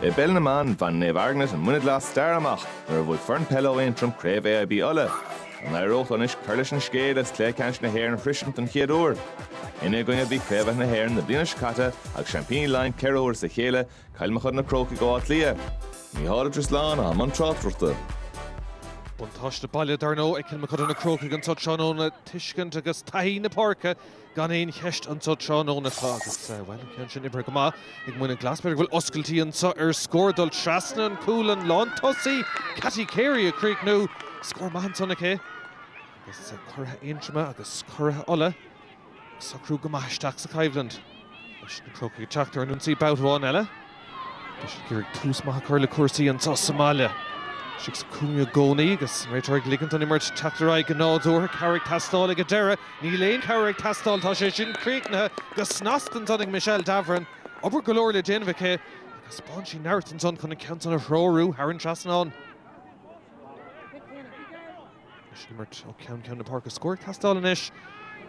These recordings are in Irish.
I bpeil na mban, bhain Naomh Eargnait an Muine Glas stair amach nuair a bhuaigh foireann peile ó Aontroim Craobh AIB Uladh. An n-éireodh leo anois cur leis an scéal is cluiche ceannais na hÉireann a shroisint den chéad uair? Ina gcoinne a bhí Craobhaithe na hÉireann na bliana seo caite agus seaimpíní Laighean ceithre huaire as a chéile, Cill Mochuda na Crócaigh ó Áth Cliath. Mícheál Ó Drisleáin i mbun tráchtaireachta. Buntáiste baile, dar ndóigh, ag Cill Mochuda na Crócaigh anseo tráthnóna, tuiscint agus taithí na páirce. Gan aon cheist anseo tráthnóna acu agus, bhuel, tá sin oibrithe go maith ag Muine Glas. B'fhéidir go bhfuil oscailtí anseo ar scór dul trasna an chúil, an lántosaí, Cathy Carey, ag críochnú. Scór maith ansan aici. Agus curaithe Aontroma agus curaithe Uladh ag socrú go maith isteach sa choimhlint leis na Crócaigh ag teacht ar an ionsaí babhta amháin eile. Tá siad ag iarraidh tús maith a chur le cúrsaí anseo sa mbaile. Tá siad sa chúinne i gcónaí agus an réiteoir ag ligint don imirt teacht ar aghaidh go nádúrtha. Cabhair ag teastáil ag an deireadh. Níl aon chabhair ag teastáil. Tá sé sin críochnaithe go snasta ansan ag Michelle Davoren. Obair go leor le déanamh aici ach thaispeáin sí neart ansan chun an ceann san a threorú thar an trasnán. Leis an imirt ó cheann ceann na páirce scór ag teastáil anois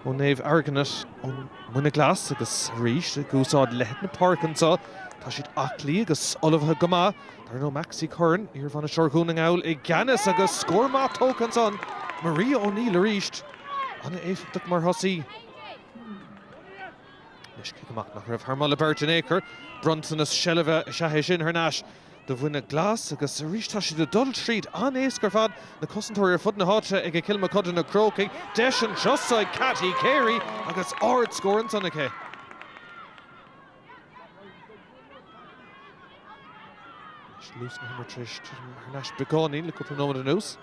ó Naomh Eargnait ón Muine Glas agus arís ag úsáid leithead na páirce anseo. Tá siad aclaí agus ullmhaithe go maith. Dar ndóigh Maxi Curran, iarbhainisteoir Dhún na nGall, i gceannas agus scór maith tógtha ansan ag Maria O'Neill arís. An-éifeachtach mar thosaí. Anois cic amach nach raibh thar mholadh beirte in ao'chor. Bronntanas seilbhe is ea é sin thar n-ais. do Mhuine Glas agus arís tá siad ag dul tríd an-éasca ar fad, na cosantóirí ar fud na háite ag Cill Mochuda na Crócaigh, deis anseo 's ag Cathy Carey agus ardscór ansan aici. Anois luas na himeartha tar éis titim thar n-ais beagáinín le cúpla nóiméad anuas.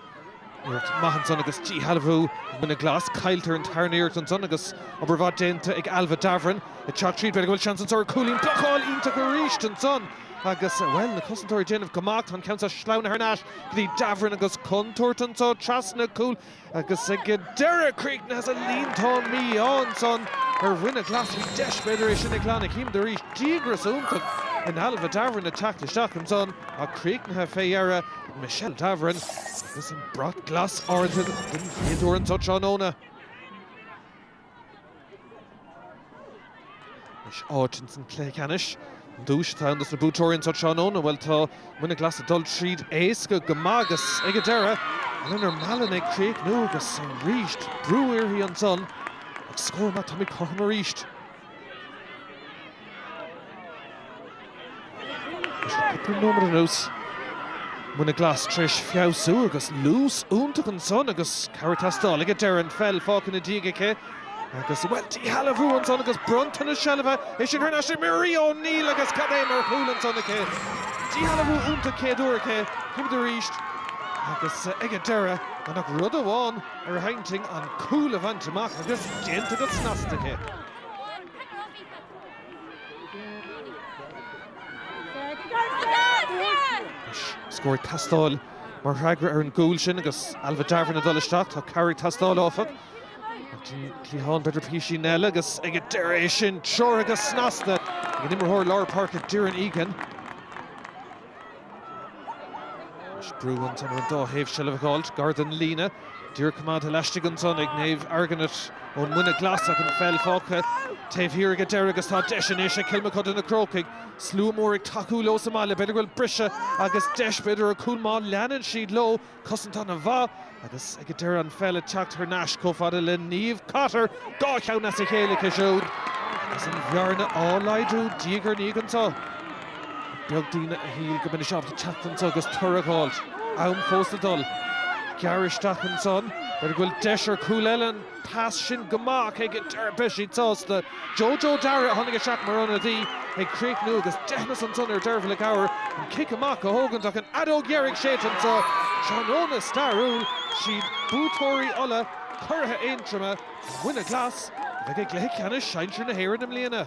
Iarracht maith ansan agus díshealbhú ag Muine Glas. Cailltear an tarna iarracht ansan agus obair mhaith déanta ag Ailbhe Davoren ag teacht tríd. B'fhéidir go bhfuil seans anso ar cúilín. Blocáil iontach arís ansan agus, bhuel, na cosantóirí ag déanamh go maith. Tá an ceann seo sleamhnaithe thar n-ais go dtí Davoren agus contúirt anso trasna cúil agus ag deireadh críochnaithe sa líontán mí-ádh ansan ar Mhuine Glas. Bhí deis, b'fhéidir, é sin a ghlanadh. Chímid arís díograis iontach in Ailbhe Davoren ag teacht isteach ansan ach críochnaithe fé dheireadh. Michelle Davoren agus an brat glas ardaithe den chéad uair anseo tráthnóna. Anois áit ins an cluiche ceannais. An duais atá ann dos na buaiteoirí anseo tráthnóna, bhuel tá Muine Glas ag dul tríd éasca go maith agus ag an deireadh, Eleanor Mallon ag críochnú agus arís brú uirthi ansan ach scór maith, táimid cothrom arís. Cúpla nóiméad anuas, Muine Ghlas tar éis feabhsú agus luas iontach ansan agus cabhair ag teastáil ag an deireadh. An pheil fágtha ina diaidh aici agus, bhuel, díshealbhú ansan agus bronntanas seilbhe, é sin thar n-ais ag Marie O'Neill agus cad é mar chúl ansan aici. Díshealbhú iontach céad uair aici. Chímid arís agus ag an deireadh, gan ach rud amháin. ar a hintinn an cúl a bhaint amach agus déanta go snasta aici. Scór ag teastáil mar fhreagra ar an gcúl sin agus Ailbhe Davoren ag dul isteach. Tá cabhair ag teastáil, áfach. ar an gcliathán, b'fhéidir píosa eile agus ag an deireadh é sin treoraithe go snasta ag an imreoir lár páirce Doireann Egan. Anois brú ón dá thaobh seilbh a dh'fháilt gar don líne. Díreach coimeádta laistigh ansan ag Niamh McArdle ón Muine Ghlas ach an pheil fágtha taobh thiar ag an deireadh agus tá deis in aisce ag Cill Mochuda na Crócaigh. Slua mór ag tacú leo sa mbaile. B'fhéidir go bhfuil briseadh agus deis, b'fhéidir ar chúl má leanann siad leo. Cosantóir ina háit agus ag deireadh an pheil ag teacht thar n-ais chomh fada le Niamh Cotter, dhá cheann as a chéile aici siúd agus an bhearna á laghdú diaidh ar ndiaidh anseo. Is beag duine a shíl go mbeimis ábalta teacht anseo agus toradh a dh'fháilt. Am fós le dul. Gearr isteach ansan. B'fhéidir go bhfuil deis ar chúl eile ann. Pas sin go maith ach ag deireadh beidh siad sásta. JoJo Darragh a tháinig isteach mar ionadaí ag críochnú agus deithneas ansan ar Dearbhla Gower an cic amach a thógaint ach an fheadóg dheiridh séidte anseo. Tráthnóna stairiúil, siad buaiteoirí Uladh, curaidh Aontroma, Muine Ghlas, a bheidh i gcluiche ceannais Sinsear na hÉireann i mbliana.